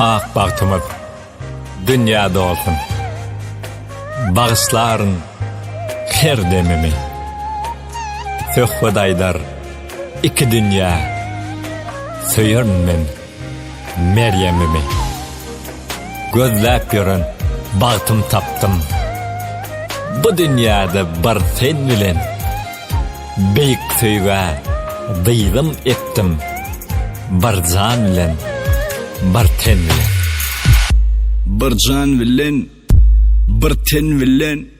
Ak bagtymyz dünýä dolsun Bagyşlaryn her demimi Söhbet aýdar iki dünýä Söýerin men Merýemimi gözläp ýören bagtym tapdym Bu dünýäde bir sen bilen Beýik söýgä dyzym epdim Bir jan bilen bir ten bilen Bir jan bilen bir ten bilen.